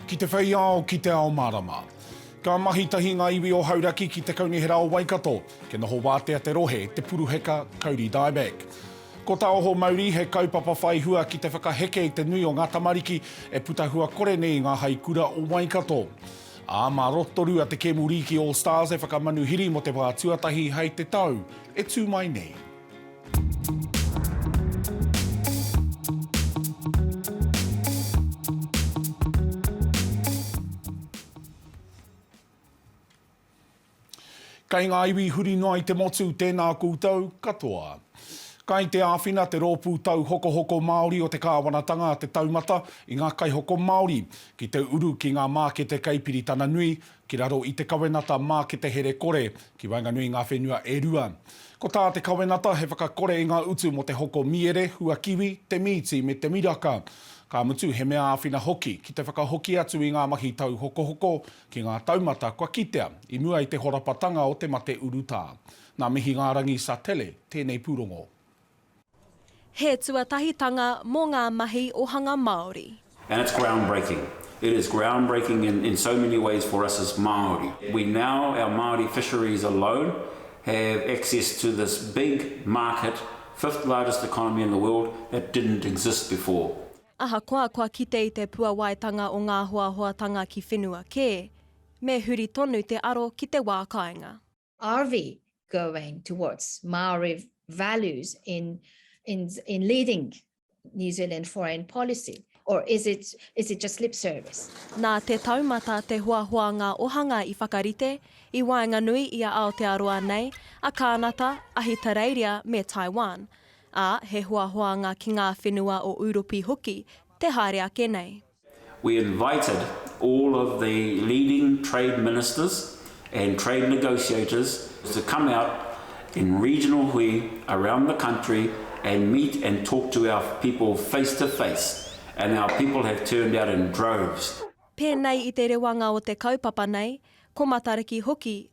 Ki te whei ao, ki te ao marama. Ka mahi tahi ngā iwi o Hauraki ki te Kaunihera o Waikato. Ke noho wātea te rohe, te puruheka, kauri dieback. Ko tā Oho Mauri, he kaupapa whai hua ki te whakaheke i te nui o ngā tamariki e puta hua kore nei i ngā haikura o Waikato. Ā, mā Rotorua te kemu rīki All Stars e whakamanuhiri mō te wā tuatahi hei te tau e tū mai nei. Kei ngā iwi huri noa i te motu tēnā koutou katoa. Kai te āwhina te Rōpū Tauhokohoko Māori o te Kāwanatanga te taumata i ngā kaihoko Māori ki te uru ki ngā mākete kei Piritana Nui ki raro i te kawenata Mākete Here Kore ki waenganui i ngā whenua e rua. Ko tā te kawenata he whakakore i ngā utu mō te hoko mīere, hua kiwi, te mīti me te miraka. Ka mutu he mea āwhina hoki ki te whakahoki atu i ngā mahi tauhokohoko Ki ngā taumata kua kitea, i mua i te horapatanga o te mate urutā. Nā Mihingārangi Satele tēnei pūrongo. He tuatahitanga mō ngā mahi o hanga Māori. And it's ground breaking. It is ground breaking in in so many ways for us as Māori. We now, our Māori fisheries alone, have access to this big market, fifth largest economy in the world, that didn't exist before. Ahakoa kua kite i te puawaitanga o ngā hoahoatanga ki whenua kē, me huri tonu te aro ki te wā kāinga. Are we going towards Māori values in in in leading New Zealand foreign policy or is it is it just lip service? Nā Te Taumata te hoahoanga ohanga i whakarite i waenganui i a Aotearoa nei, a Kānata, Ahitereiria me Taiwan. Ā, he hoahoanga ki ngā whenua o Ūropi hoki te haere ake nei. We invited all of the leading trade ministers and trade negotiators to come out in regional hui around the country and meet and talk to our people face to face and our people have turned out in droves. Pēnei i te rewanga o te kaupapa nei, ko Matariki hoki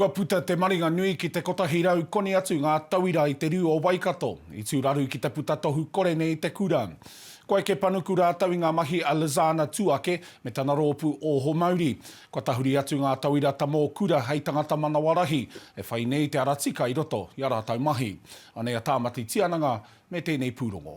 Kua puta te maringa nui ki te kotahi rau koni atu ngā tauira i te rū o Waikato, i tūraru ki te puta tohu kore nei i te kura. Ko Eke Panuku rātou i ngā mahi a Lizana Tuake me tana rōpū Oho Mauri. Kua tahuri atu ngā tauira tamō kura hei tangata manawarahi e whai nei te ara tika i roto i a rātou mahi. Anei a Tāmati Tiananga me tēnei pūrongo.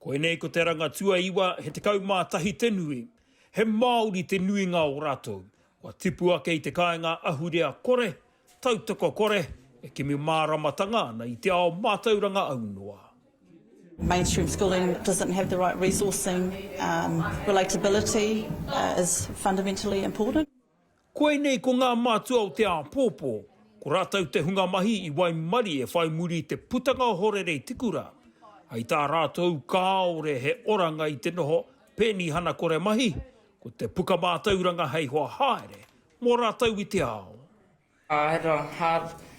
Koinei ko te ranga tuaiwa he tekau mā tahi te nui. He Māori te nuinga o rātou. Kua tipu ake i te kāinga ahurea kore, tautoko kore, e kimi māramatanga ana i te ao mātauranga aunoa. Mainstream schooling doesn't have the right resourcing, relatability is fundamentally important. Koinei ko ngā mātua o te āpōpō, ko rātou te hunga mahi i waimarie whai muri i te putanga o Horerei Tikura. Hei tā rātou kāore he oranga i te noho penihana kore mahi, ko te puka mātauranga hei hoa haere mō rātou i te ao. Aira Hub,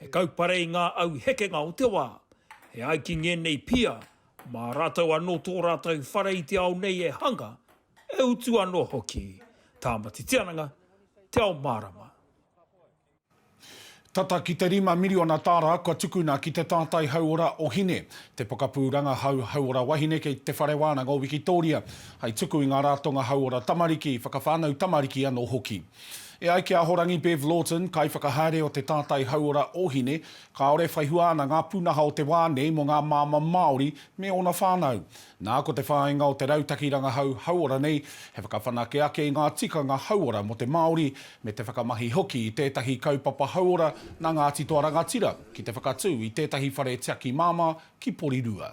He kaupare i ngā au hekenga o te wā. E ai ki ngēnei pia, mā rātou anō tō rātou whare i te ao nei e hanga, e utu anō hoki. Tāmati Tiananga, Te Ao Mārama. Tata ki te rima miriona tāra kua tukuna ki te tātai hauora o Hine, te pokapū rangahau hauora wahine kei Te Whare Wānanga o Wikitōria, hai tuku i ngā rātonga hauora tamariki, whakawhānau tamariki anō hoki. E ai ki a Ahorangi Bev Lawton, Kaiwhakahaere o te Tātai Hauora Ohine, kāore e whai hua ana ngā pūnaha o te wā nei mō ngā māmā Māori me ōna whānau. Nā, ko te whāinga o te rautaki rangahau hauora nei, he whakawhanake ake i ngā tikanga hauora mō te Māori, me te whakamahi hoki i tētahi kaupapa hauora nā Ngāti Toa Rangatira ki te whakatū i tētahi whare tiaki māmā ki Porirua.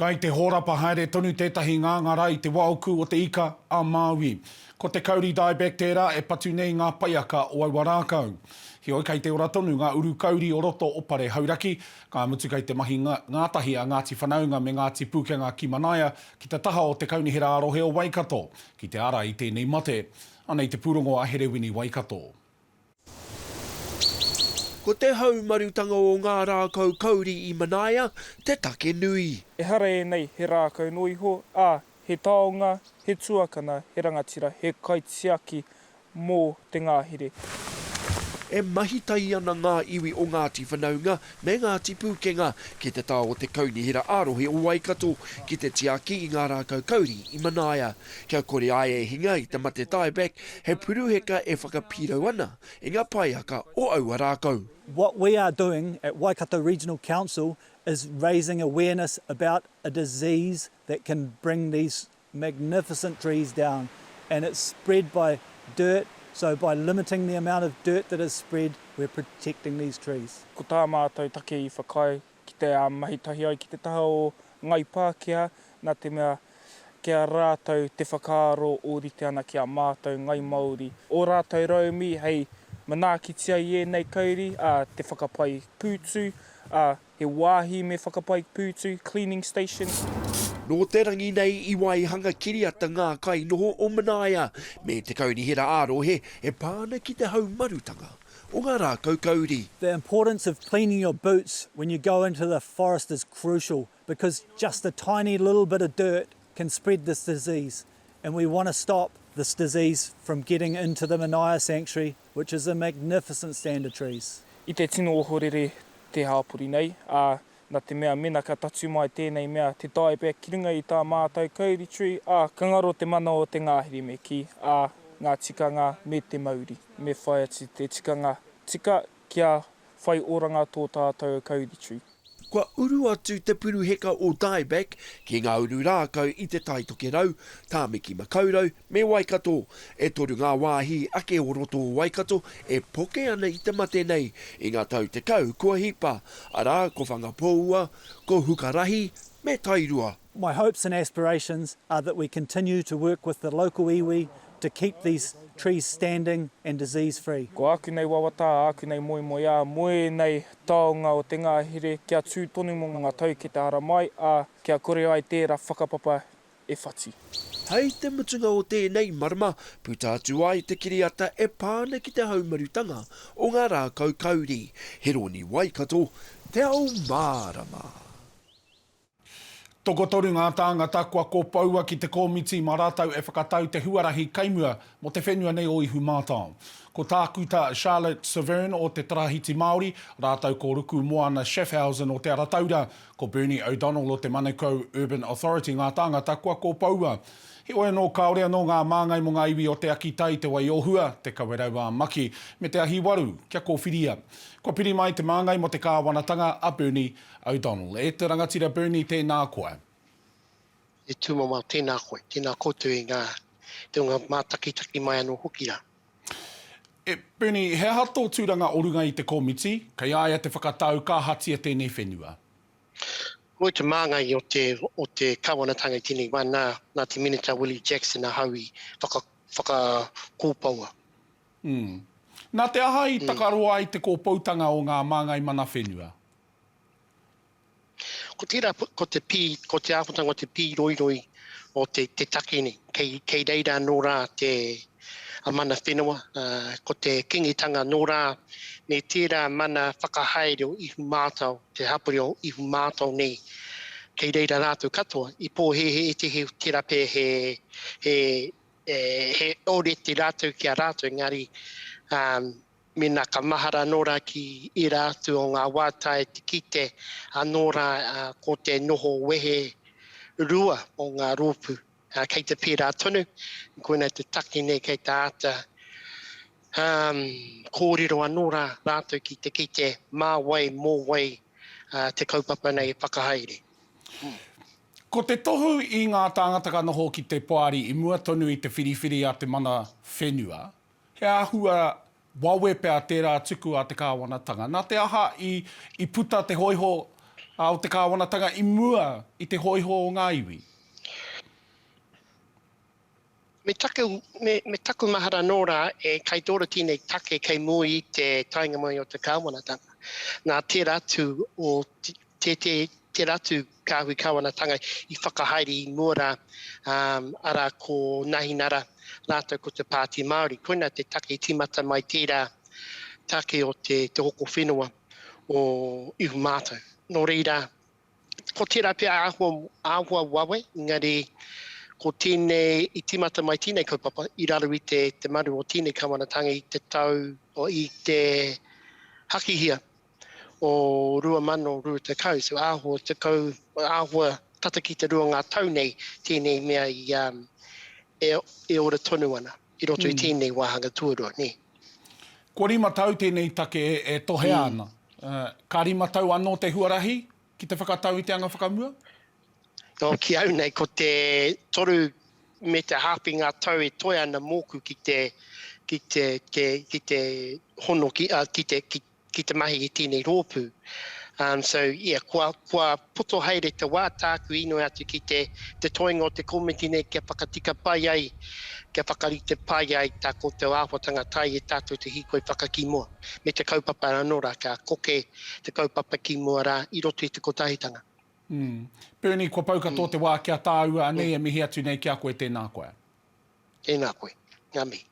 Kai te hōrapa haere tonu tētahi ngāngā rā i te wā uku o te ika a Māui. Ko te kauri dieback tērā e patu nei ngā paiaka o aua rākau. Heoi kai te ora tonu ngā uru kauri o roto o Pare Hauraki, ka mutu kai te mahi ngātahi a Ngāti Whanaunga me Ngāti Pūkenga ki Manaia ki te taha o te Kaunihera ā-Rohe o Waikato ki te ara i tēnei mate. Anei te pūrongo a Herewini Waikato. Ko te haumarutanga o ngā rākau kauri i Manaia te take nui. Ehara ēnei he rākau noa iho, ā, he taonga, he tuakana, he rangatira, he kaitiaki mō te ngahere. E mahitahi ana ngā iwi o Ngāti Whanaunga me ngā tipu kenga ki te tao o te Kaunihera ā-Rohe o Waikato ki te tiaki i ngā rākau kauri i Manaia. Kia kore ai e hinga i te mate tieback, he puruheka e whakapīrau ana i ngā paeaka o aua rākau. What we are doing at Waikato Regional Council is raising awareness about a disease that can bring these magnificent trees down and it's spread by dirt so by limiting the amount of dirt that is spread we're protecting these trees. Ko tā mātou take i whakaae ki te mahi tahi ai ki te taha o Ngāi Pākehā nā te mea ki a rātou te whakaaro ōrite ana ki a mātou Ngāi Māori ō rātou rauemi hei manaakitia i ēnei kauri, ā, te whakapai pūtu, ā, He wāhi me whakapai pūtu, cleaning station. Nō te rangi nei i waihanga kiriata ngā kai noho o Manaia me te kaunihera ā-rohe e pā ana ki te haumarutanga o ngā rākau kauri. The importance of cleaning your boots when you go into the forest is crucial because just a tiny little bit of dirt can spread this disease. and we want to stop this disease from getting into the Manaia Sanctuary which is a magnificent stand of trees. I te tino ohorere te hāpori nei, ā, nā te mea mena ka tatū mai tēnei mea, te dieback, ki runga i tā mātau kauri tree, ā, ka ngaro te mana o te ngahere me kī, ā, ngā tikanga me te mauri, me whai atu te tikanga tika Kia whai oranga tō tātou Kauritree. Kua uru atu te puruheka o Dieback ki ngā uru rākau i Te Tai Tokerau, Tāmiki Makaurau me Waikato. E toru ngā wāhi ake o roto o Waikato e poke ana i te mate nei i ngā tau tekau kua hipa, arā, ko Whangapōua, ko Hukarahi me Tairua. My hopes and aspirations are that we continue to work with the local iwi to keep these trees standing and disease free. Ko āku nei wawata, āku nei moemoeā, mō ēnei taonga o te ngahere, kia tū tonu mō ngā tau ki te haramai, ā, kia kore ai tērā whakapapa e whati. Hei te mutunga o tēnei marama, puta atu ai te kiriata e pā ana ki te haumarutanga o ngā rākau kauri. He rōni Waikato te ao mārama. Tokotoru ngā tāngata kua kopoua ki te kōmiti mā rātou e whakatau te huarahi kaimua mō te whenua nei o Ihumātao. Ko Tākuta Charlotte Severn o Te Tarahiti Māori, rātou ko Ruku Moana Schaffhausen o Te Ara Taura, ko Bernie O'Donnell o te Manukau Urban Authority ngā tāngata kua kopoua. Heoi anō, kāore anō ngā māngai mō ngā iwi o Te Akitai, Te Wai-o-Hua, Te Kawerau-ā-Maki, me Te Ahiwaru kia kōwhiria. Kua piri mai te māngai mō te kāwanatanga a Bernie O'Donnell, E te rangatira Bernie, tēnā koe. Te Tūmama, Tēnā koe, tēnā koutou i ngā teonga mātakitaki mai anō hoki rā. E, Bernie, he aha tō tūranga o runga i te komiti? Kei a ia te whakatau ka ahatia tēnei whenua? Ko te māngai o te, o te Kāwanatanga i tēnei wā, nā, nā te Minita Willie Jackson ahau i whaka, whakakōpoua. Mm. Nā te aha i takaroa ai te kōpoutanga o ngā māngai mana whenua? Ko tērā, ko te pī, ko te āhuatanga o te pīroiroi o te, te take nei. Kei, kei reira anō rā te, a mana whenua, ā, ko te kingitanga anō rā me tērā mana whakahaere o Ihu Mātao, te hapori o Ihu Mātao nei. Kei reira rātou katoa. I pōhēhē ētehi o tērā pea he, he, he orete rātou ki a rātou, engari, ā, Mēnā ka mahara anō rā ki ērā atu o ngā wā tae te kite anō rā ko te noho wehe rua o ngā rōpū, kei te pērā tonu, koinei te take nei kei te āta kōrero anō rā rātou ki te kite mā wai, mō wai te kaupapa nei e whakahaere. Ko te tohu i ngā tāngata ka noho ki te Poari i mua tonu i te whiriwhiri a te mana whenua, He āhua wawe pea tērā tuku a te kāwanatanga. Nā te aha i puta te hōiho o te kāwanatanga i mua i te hōiho o ngā iwi? Me taku mahara nō rā, e kaitōro tēnei take kei mua i te taenga mai o te kāwanatanga. Nā tērā atu o tērā atu Kāhui Kāwanatanga i whakahaere i mua rā, arā ko Nahinara rātou ko te Pāti Māori. Koinā te take i tīmata mai tērā take o te hoko whenua o Ihu Mātou. Nō reira, ko tērā pea āhua wawe, engari ko tēnei, i tīmata mai tēnei kaupapa i raro i te maru o tēnei Kāwanatanga i te tau, i te hakihia o 2020, so āhua tekau, āhua tata ki te rua ngā tau nei tēnei mea i, um, e, e ora tonu ana i roto mm. i tēnei wāhanga tuarua, nē. Kua rima tau tēnei take e, e tohea mm. ana. Uh, ka rima tau anō te huarahi ki te whakatau i te anga whakamua? No, ki au nei, ko te toru me te hāpi ngā tau e toe ana mōku ki te, ki te, te, ki te hono, ki, uh, ki te, ki, ki te mahi i tēnei rōpū. Um, so, yeah, kua, kua poto haere te wā tāku inoi atu ki te, te toenga o te komiti nei kia whakatika pai ai, kia whakarite pai ai tā koutou āhuatanga tae e tātou te hīkoi whakakī mua, me te kaupapa anō rā, kia koke te kaupapa kī mua rā i roto i te kotahitanga. Mm. Bernie, kua pau katoa mm. te wā kia tāua anei mm. e mihi atu nei ki a koe, tēnā koe. Tēnā koe. Ngā mihi.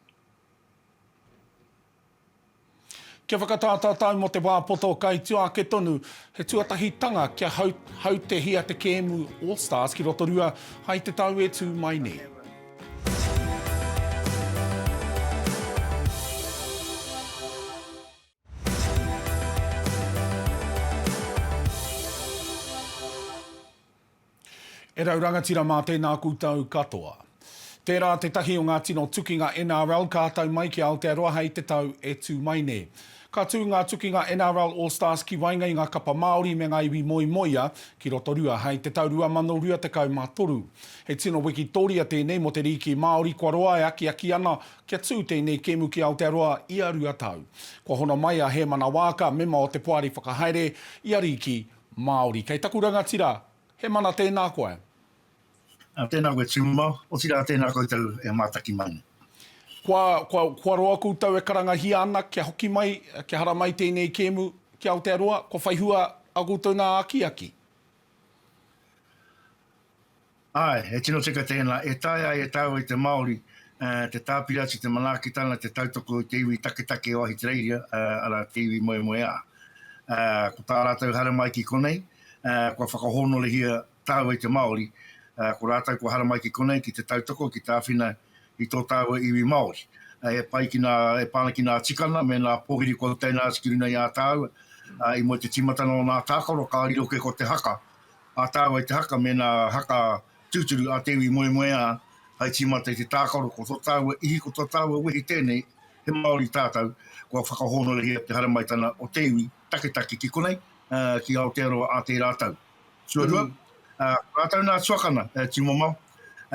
Kia whakatātātau mō te wā poto kai tua ake tonu, he tuatahitanga kia hautehia te kēmu All Stars ki Rotorua hai te tau e tū mai nei. E rau rangatira mā tēnā koutou katoa. Tērā tētahi o ngā tino tukinga NRL ka tau mai ki Aotearoa hei te tau e tū mai nei. Ka tū ngā tukinga NRL All Stars ki waenga i ngā kapa Māori me ngā iwi moemoeā ki Rotorua hei te tau 2023. He tino wikitoria tēnei mō te rīki Māori kua roa e akiaki ana kia tū tēnei kēmu ki Aotearoa ia rua tau. Kua hono mai a Hēmana Waaka, mema o te Poari Whakahaere, i a Rīki Māori. Kei taku rangatira, he mana tēnā koe. Ā, tēnā koe Tumamao, otirā tēnā koutou e mātaki mai nei. Kua, kua, kua roa koutou e karangahia ana kia hoki mai, kia haramai tēnei kēmu ki Aotearoa, kua whaihua ā koutou nā akiaki. Āe, he tino tika tēnā, e taea ai e tāua i te Māori te tāpiri atu i te manaakitanga, te tautoko i te iwi taketake o Ahitereiria, arā, te iwi moemoeā. Ko tā rātou haramai ki konei, kua whakahōnorehia tāua i te Māori, ko rātou kua haramai ki konei ki te tautoko, ki te āwhina i tō tāua iwi Māori. E pai ki nā, e pā ana ki nā tikanga me nā pōhiri kua utaina atu ki runga i a tāua, i mua i te tīmatanga o nā tākaro, ka riro kē ko te haka, a tāua i te haka me nā haka tūturu a te iwi moemoeā hai tīmata i te tākaro ko tō tāua ihi ko tō tāua wehi tēnei he Māori tātou kua whakahōnorehia te haramaitana o te iwi taketake ki konei ki Aotearoa a tērā tau tuarua ko rātou nā tuakana e tīmamao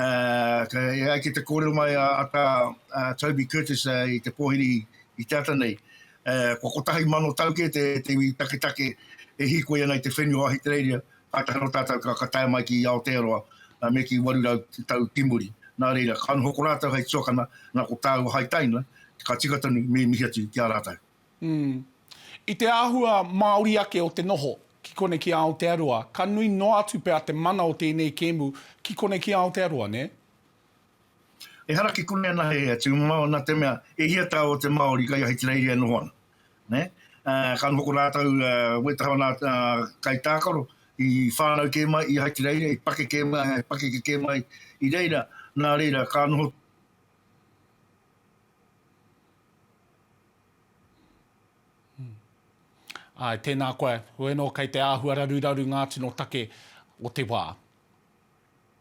e ai ki te kōrero mai a Toby Curtis i te pōhiri i te ata nei Kua kotahi mano tau kē te iwi taketake e hīkoi ana i te whenua o Ahitereiria, kātahi anō tātou ka tae mai ki Aotearoa me ki 800 tau ki muri. Nā reira, ka noho ko rātou hei tuakana, nā ko tāua hai taina, ka tika tonu me mihi atu ki a rātou. I te āhua māori ake o te noho ki konei ki Aotearoa, ka nui noa atu pea te mana o tēnei kēmu ki konei ki Aotearoa, nē? Ehara ki konei anahe e atu māu nā te mea e hia tā o te Māori kai Ahitereiria e noho ana. Nē? Ā, ka noho ko rātou wē taha o nā kai tākaro i whānau kē mai i Ahitereiria, i pakeke mai, i pakeke kē mai i reira, nā reira ka noho Āe, tēnā koe. Koe nō kei te āhua raruraru ngā tino take o te wā.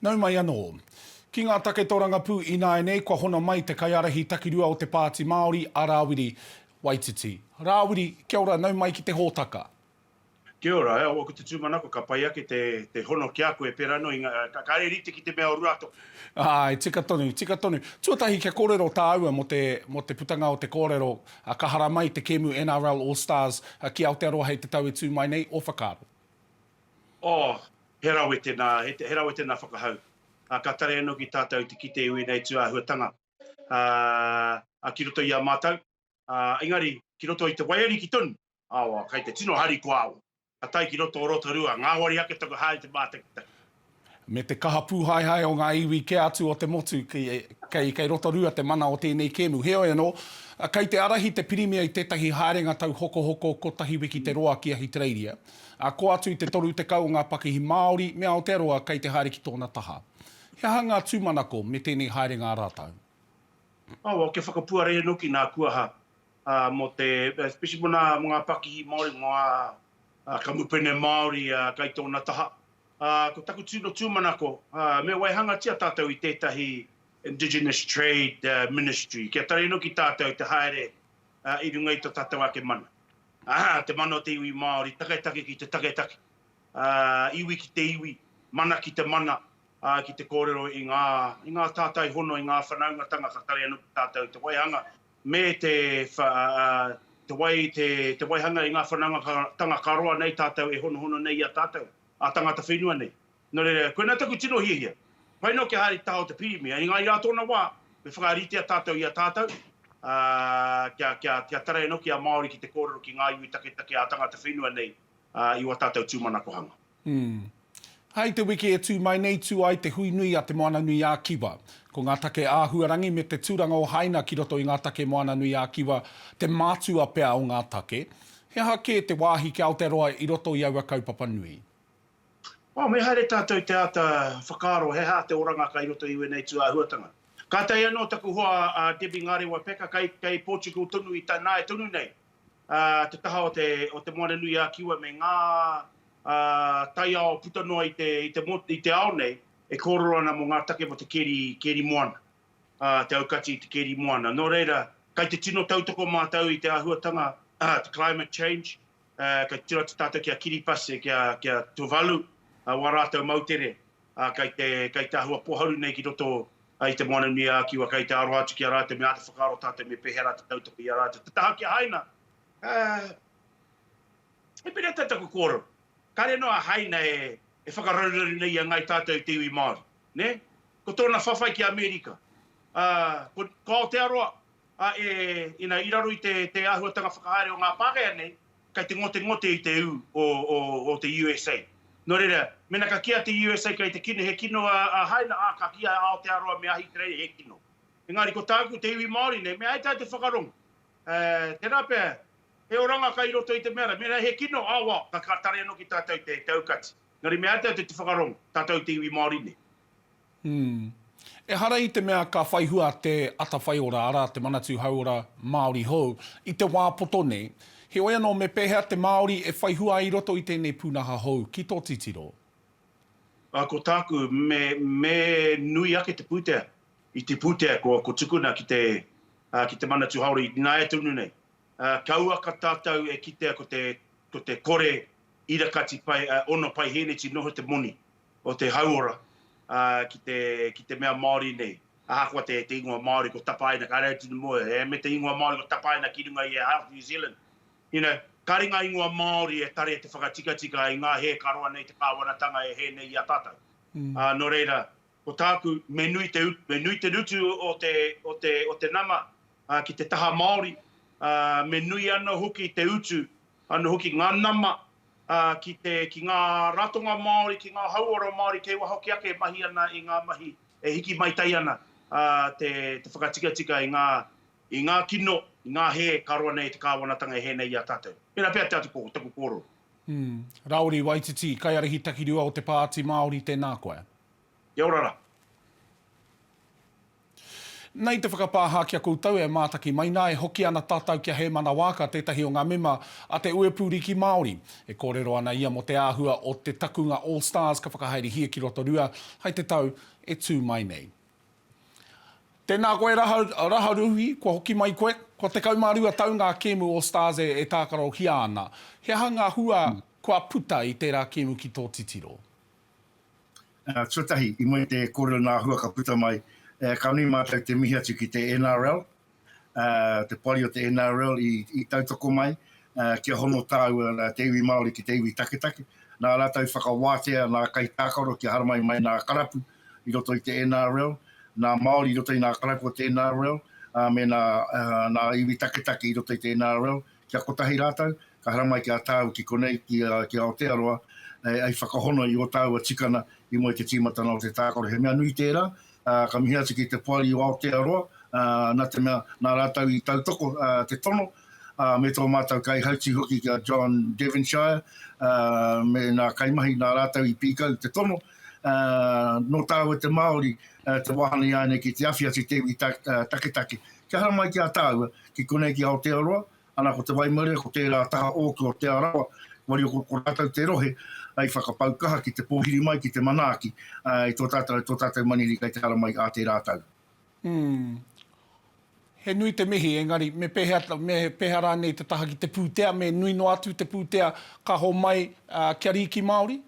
Nau mai anō. Ki ngā take tōrangapū ināianei kua hono mai te kaiārahi takirua o te Pāti Māori a Rāwiri Waititi. Rāwiri, kia ora, nau mai ki te hōtaka. Kia ora, e au aku te tūmanako ka pai ake te hono ki a koe pērā anō i ngā, kāre rite ki te mea o Ruatoki. Āe, tika tonu, tika tonu. Tuatahi kia kōrero tāua mō te putanga o te kōrero Ka haramai te kēmu NRL All Stars ki Aotearoa hei te tau e tū mai nei, ō whakaaro? Oh, he rawe tēnā, he rawe tēnā whakahau. Ka tare anō ki tātou te kite i wēnei tū āhuatanga ki roto i a mātou, engari ki roto i te waiariki tonu, Awa, kei te tino harikoa awa. Ka tae ki roto o Rotorua, ngāwari ake taku hā i te mātakitaki. Me te kaha pūhaehae o ngā iwi kē atu o te motu, kei Rotorua te mana o tēnei kēmu. Heoi anō, kei te ārahi te Pirimia i tētahi haerenga tauhokohoko kotahi wiki te roa ki Ahitereiria, ā, kō atu i te 30 o ngā pakihi Māori me Aotearoa kei te haere ki tōna taha. He aha ngā tūmanako me tēnei haerenga a rātou? Awa, kia whakapuare e noki nā Kuaha mō te, especially mō ngā pakihi Māori, mō ngā kamupene Māori kai tōna taha. Ko taku tino tūmanako, me waihangatia tātou i tētahi Indigenous Trade Ministry, kia taria anō ki tātou te haere i runga i tō tātou ake mana. Te mana o te iwi Māori, taketake ki te taketake, iwi ki te iwi, mana ki te mana, ki te kōrero i ngā tātai hono, i ngā whanaungatanga ka taria anō ki tātou te waihanga. me te wai, te waihanga i ngā whanaungatanga ka roa nei tātou e honohono nei i a tātou, a tangata whenua nei. Nō reira, koinā taku tino hiahia, pai noa kia haere te taha o te Pirimia, engā i ā tōna wā, me whakaritea tātou i a tātou, kia tarai anō ki a Māori ki te kōrero ki ngā iwi taketake a tangata whenua nei i wā tātou tūmanakohanga. Umm. Hei te wiki e tū mai nei tū ai te hui nui a Te Moana-nui-ā-Kiwa. Ko ngā take āhuarangi me te tūranga o Haina ki roto i ngā take Moana-nui-ā-Kiwa te mātua pea o ngā take. He aha kē te wāhi ki Aotearoa i roto i aua kaupapa nui? Oh, me haere tātou te āta whakaaro he aha te oranga kai roto i wēnei tū āhuatanga. Kātahi anō taku hoa a Debbie Ngarewa Packer kai, kai Portugal tonu i tanae tonu nei. te taha o Te Moana-nui-a-Kiwa me ngā taiao puta noa i te ao nei e kōrero ana mō ngā take mō te kēri moana, te aukati i te kēri moana. Nō reira, kei te tino tautoko mātou i te āhuatanga, te climate change, kei te tino atu tātou ki a Kiripase, ki a Tuvalu, wā rātou moutere, kei te āhua pōharu nei ki roto I te Moana-nui-a-Kiwa, kei te aro atu ki a rātou me āta whakaaro tātou me pēhea rā te tautoko i a rātou. Te taha ki a Haina, he pēnei tā taku kōrero, kāre noa a Haina e whakarauraru nei i a Ngāi Tātou i te iwi Māori. Ko tōna whawhai ki Amerika, ko Aotearoa, ā, i raro i te āhuatanga whakahaere o ngā Pākehā nei, kei te ngotengote i te ū o te USA. Nō reira, mēnā ka kīa te USA kei te kino, he kino a Haina, ā, ka kīa e Aotearoa me Ahitereiria he kino. Engari ko tāku te iwi Māori nei, me ai tā te whakarongo, tērā pea, he oranga kai roto i te mea rā, mēnā he kino, ā, wā, ka tare anō ki tātou te aukati. Engari me ai tātou te whakarongo, tātou te iwi Māori nei. Ehara i te mea ka whai hua te atawhai ora, arā, te Manatū Hauora Māori hou, i te wā poto nei. Heoi anō, me pēhea te Māori e whai hua ai i roto i tēnei pūnaha hou, ki tō titiro? Ko tāku, me nui ake te pūtea. I te pūtea, ko tukuna ki te Manatū Hauora i nāia tonu nei. Kauaka tātou e kitea ko te kore irakati ono paihēneti noho te moni. o te hauora ki te mea Māori nei. Ahakoa te ingoa Māori ko tapaina, kāre au tino mōhio, e, me te ingoa Māori ko tapaina ki runga i a Health New Zealand. You know, kāre ngā ingoa Māori e tare te whakatikatika i ngā hē ka roa nei te kāwanatanga e hē nei i a tātou. Nō reira, ko tāku, me nui te utu, me nui te rutu o te nama ki te taha Māori, me nui anō hoki te utu Anō hoki ngā nama ki te, ki ngā ratonga Māori, ki ngā hauora Māori kei waho hoki ake e mahi ana i ngā mahi e hiki maitai ana te whakatikatika i ngā, i ngā kino, i ngā hē ka roa nei i te Kāwanatanga e hē nei i a tātou. Tēnā pea te atu ko taku kōrero. Rauri Waititi, Kaiarihi Takirua o te Pāti Māori, tēnā koe. Kia ora ra. Nei te whakapāha ki a koutou e mātaki mai nā, e hoki ana tātou ki a Hēmana Waaka, tētahi o ngā mema a te Uepū Riki Māori. E kōrero ana ia mō te āhua o te takunga All Stars ka whakahaerehia ki Rotorua hai te tau e tū mai nei. Tēnā koe Raharuhi, kua hoki mai koe. Kua tekau mā rua tau ngā kēmu All Stars e tākarohia ana. He aha ngā hua kua puta i tērā kēmu ki tō titiro? Tuatahi, i mua i te kōrero nā Hua ka puta mai, ka nui mātou te mihi atu ki te NRL, te poari o te NRL i tautoko mai kia hono tāua te iwi Māori ki te iwi taketake, nā rātou whakawātea nā kaitākaro kia haramai mai nā karapu i roto i te NRL, nā Māori i roto i nā karapu o te NRL, ā, me nā iwi taketake i roto i te NRL. Kia kotahi rātou, ka haramai ki a tāu ki konei, ki, ki Aotearoa, hei whakahono i ō tāua tikana i mua i te tīmatanga o te tākaro. He mea nui tērā, ka mihi atu ki te poari o Aotearoa, nā te mea, nā rātou i tautoko te tono, me tō mātou kaihautū hoki ki a John Devonshire, me nā kaimahi, nā rātou i pīkau te tono, nō tāua te Māori te wāhanga i āianei ki te awhi atu te iwi taketake. Kia haramai ki a tāua, ki konei ki Aotearoa, ana ko te waimarie ko tērā taha ōku o Te Arawa, koia ko ko rātou te rohe i whakapau kaha ki te pōhiri mai ki te manaaki i tō tātou, tō tātou manini kei te haramai ā tērā tau. Umm. He nui te mihi, engari me pehea, me peha rānei te taha ki te pūtea, me nui noa atu te pūtea ka homai kia rīki Māori?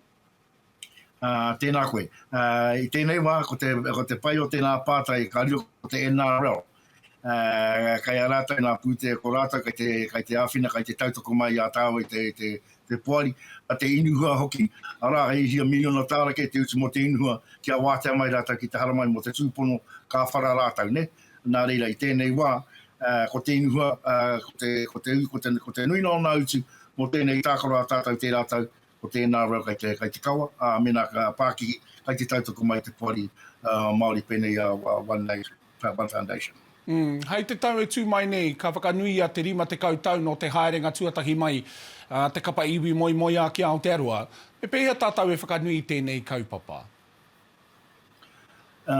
Uh, tēnā koe. Uh, I tēnei wā, ko te, ko te pai o tēnā pātai, ka riro ko te NRL. Uh, kei a rātou nā pūtea, ko rātou kei te, kei te āwhina, kei te tautoko mai a tāua i te, te, te poari, a te inuhua hoki. Arā, hei hia miliona tāra kei te utu mō te inuhua, ki a wātea mai rātou ki te haramai mō te tūpono, ka whara rātou, ne? Nā reira, i tēnei wā, uh, ko te inuhua, uh, ko, te, ko, te, ko, te, ko te nuina o nā utu, mō tēnei tākaro a tātou tērā tau, Ko tēnā rau kai te, kai te kawa, ā, mēnā ka pākihi, kai te tautoko mai te poari Māori pēnei a One Nation, One Foundation. Hei te tau e tū mai nei, ka whakanuia te 50 tau nō te haerenga tuatahi mai a te kapa iwi moemoeā ki Aotearoa. Me pēhea tātou e whakanui i tēnei kaupapa? Ā,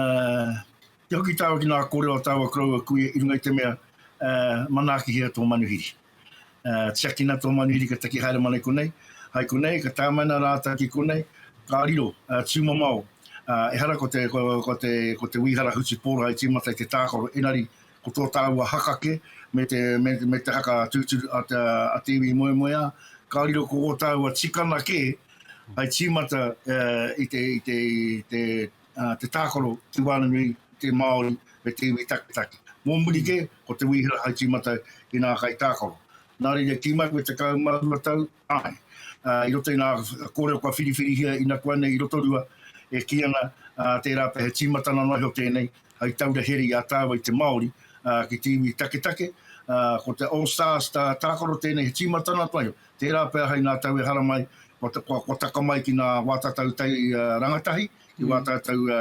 kia hoki tāua ki nā kōrero a tāua koroua kuia i runga i te mea, ā, manaakihia tō manuhiri. Uh, tiakina tō manu iri ka taki haere mana i konei, hai konei, ka tāmaina rātou ki konei, ka riro, uh, tūmamao, uh, ehara ko te, ko, ko te, ko te wīhara hutu pōra i tīmata i te tākaro, enari, ko tō tāua hakake, me te, me, me te haka tūturu a, te, a te iwi moemoeā, ka riro ko ō tāua tikana kē, hai tīmata uh, i te, i te, i te, te tākaro, te wānanui, te Māori, me te iwi taketake. Mō muri kē, ko te Wīhara hai tīmata i nā kaitākaro. Nā reira, tī mai koe te tekau mā rua tau? Āe. I roto i nā kōrero kua whiriwhirihia inakuanei i Rotorua, e kī ana, tērā pea he tīmatanga noa iho tēnei hai taura here i a tāua i te Māori ki te iwi taketake. Ko te All Stars tākaro tēnei, he tīmatanga noa iho, Tērā pea hai ngā tau e hara mai, kua taka mai ki ngā wā tatau tai rangatahi, ki wā tātou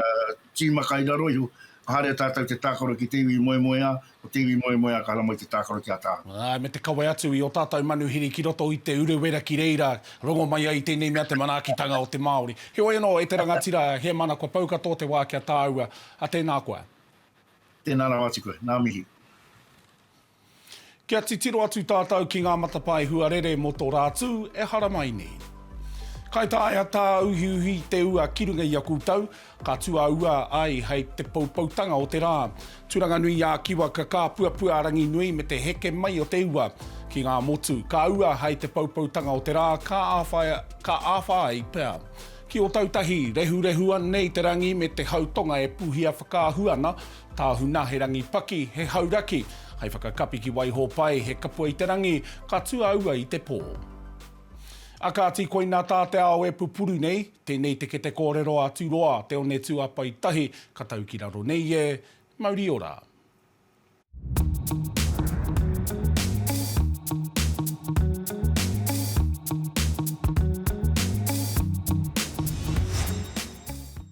tīma kai raro iho, ka haere tātou te tākaro ki te iwi i moemoeā, ko te iwi i moemoeā ka hara mai te tākaro ki a tātou. Āe, me te kawe atu i ō tātou manuhiri ki roto i Te Urewera ki reira rongo mai ai tēnei mea te manaakitanga o te Māori. Heoi anō, e te rangatira, he mana kua pau katoa te wā kia tāua, a tēnā koe. Tēnā rawa atu koe. Ngā mihi. Kia titiro atu tātou ki ngā matapae huarere mō tō Rātū e haramai nei. Kai taea tāuhiuhi te ua ki runga i a koutou, ka tuaua ai hei te poupoutanga o te rā. Turanganui-ā-Kiwa ka kāpuapua a Ranginui me te heke mai o te ua ki ngā motu. Ka ua hei te poupoutanga o te rā, ka āwhai, ka āwha ai pea. Ki Ōtautahi, rehurehua nei te rangi me te hau tonga e puhia whakaahua ana, Tāhuna, he rangi paki, he hauraki. Hai whakakapi ki Waihōpai, he kapua i te rangi, ka tū a ua i te pō. A kāti koina tā te ao e pupuru nei, tēnei te kete kōrero a Turoa, te one tūāpae tahi, ka tau ki raro nei e, mauri ora.